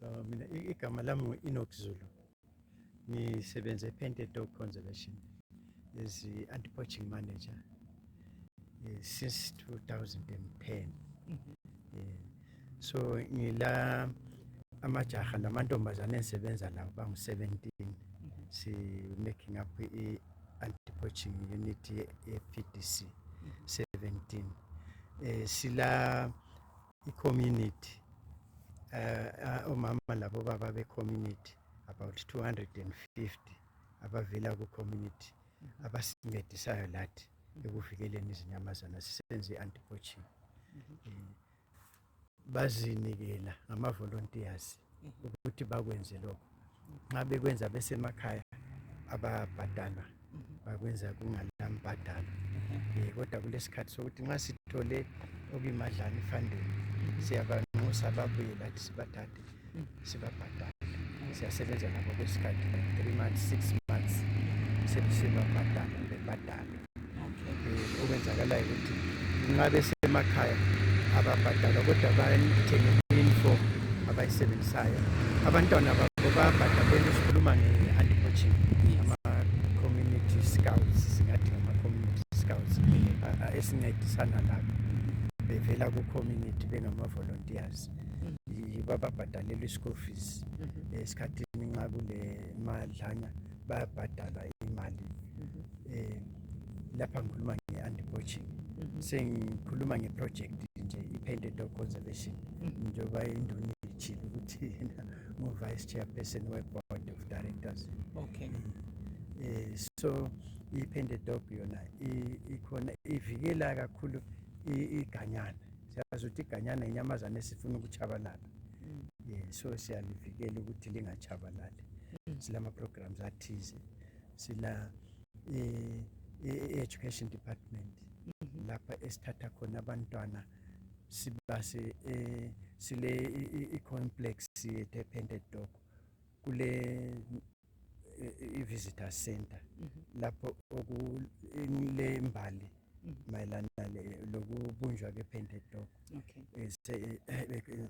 Uh, mina i- igama lami ngu-enoch zulu ngisebenza epainted dog conservation as i-anti-poaching manager eh, since 2010 Eh, so ngila amajaha namantombazane engisebenza lawo bangu-17 si-making up i-anti-poaching unit ye-pdc 17 um sila icommunity uh, omama uh, labobaba becommunity about 250 abavela kucommunity mhm. abasincedisayo lathi ekuvikeleni izinyamazana sisenze i-antipoaching mhm. eh, bazinikela ngamavolontiyazi ukuthi bakwenze lokho nxa bekwenza besemakhaya ababhadalwa bakwenza kungalambhadalo um kodwa kulesikhathi sokuthi nxa sithole okuyimadlana ifandeni siyabanxusa babuye lathi sibathathe sibabhadale siyasebenza labo kwesikhathi three months six months sebesibabhadala bebhadalwe eh, okwenzakalayo ukuthi nxa besemakhaya ababhadalwa kodwa bayithengela i-uniform abayisebenzisayo abantwana babo bayabhadalwa esikhuluma nge-anti poaching ama-community scouts singathi ngama-community scouts esincedisana labo bevela ku-community bengama-volunteers yibo ababhadalelwa i-school fees mhm. esikhathini nxa kulemadlana bayabhadalwa imali mhm. eh, lapha ngikhuluma nge-anti poaching mhm. sengikhuluma ngeproject nje i-painted dog conservation mhm. njengoba induna ithile ukuthi yena ngu-vice chairperson we-board of directors okay mm. eh, so i-painted dog yona ikhona ivikela kakhulu iganyana siyazi ukuthi iganyana inyamazana esifuna ukuchabalala mm. yeah, so siyalivikela ukuthi lingachabalali mm. silama-programs athize sila eh, i-education department mhm. lapha esithatha khona abantwana sibase eh, sile i-complex yethu epended dog kule i-visitor center mhm. lapho okule mbali mhm. mayelana lokubunjwa kepended dog eh, eh,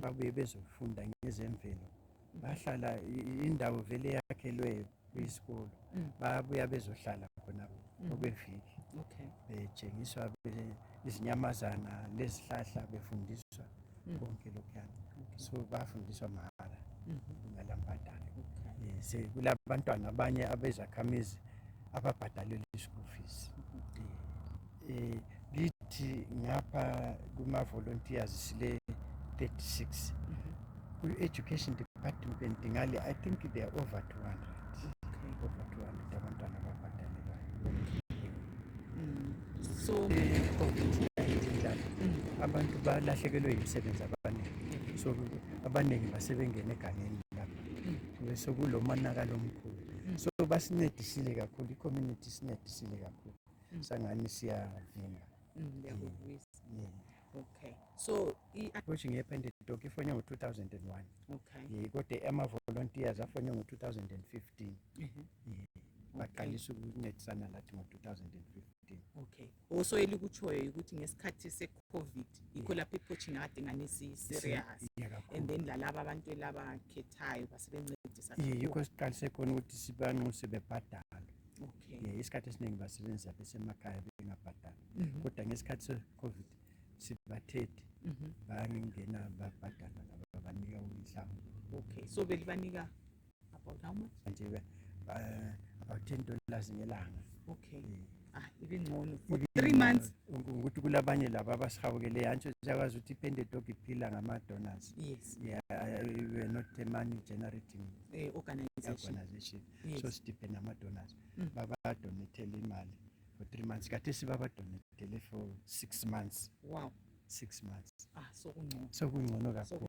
babuye bezofunda ngezemvelo bahlala indawo vele yakhelweyo kuyisikolo mm. babuya bezohlala khonapho mm. okweviki betshengiswa izinyamazana lezihlahla befundiswa mm. konke lokhuyana so bafundiswa mahara mm-hmm. ngalambadalo eh, kulabantwana abanye abezakhamizi ababhadalelwa i-school fees mm-hmm. Eh, kithi ngapha kuma volunteers sile 36 ku education department ngale i think they are over 200 over 200 abantwana ababhadalelwayo so abantu balahlekelwe yimisebenzi abaningi so abaningi basebengene egangeni lapha besekulomonakalo omkhulu so basincedisile kakhulu i-community isincedisile kakhulu mm. sangani siyavimba mm, ndiyakuvuyisa yeah. okay so i-approaching yepentedoki ifonywe ngo-2001 okay ye kodwa ama-volunteers afonywe ngo-2015 mm-hmm. baqalisa ukuncedisana lathi ngo-2015 okay also elikutshoyo ukuthi ngesikhathi se-covid yikho lapho i-poaching akade ngani si-serious and then lalaba abantu elabakhethayo basebencedisa yikho siqalise khona ukuthi sibanxuse bebhadalwe okay. yeah, isikhathi esiningi basebenzisa besemakhaya bengabhadali mm -hmm. kodwa ngesikhathi se-covid sibathethi mm -hmm. bangena babhadala laba babanika umhlambi okay so belibanika about how much nje uh, about ten dollars ngelanga okay yeah. Ah, ibingcono for three months ukuthi kulabanye laba abasihawukele yantsho ziyakwazi ukuthi ipende dog iphila ngama-donors yes yeah, uh, we're not a money generating eh, organization, organization. yes. so sidiphe namadonors mm. babadonethele imali for three months kade sibabadonethele for six months wow six months ah, so kungcono so kungcono kakhulu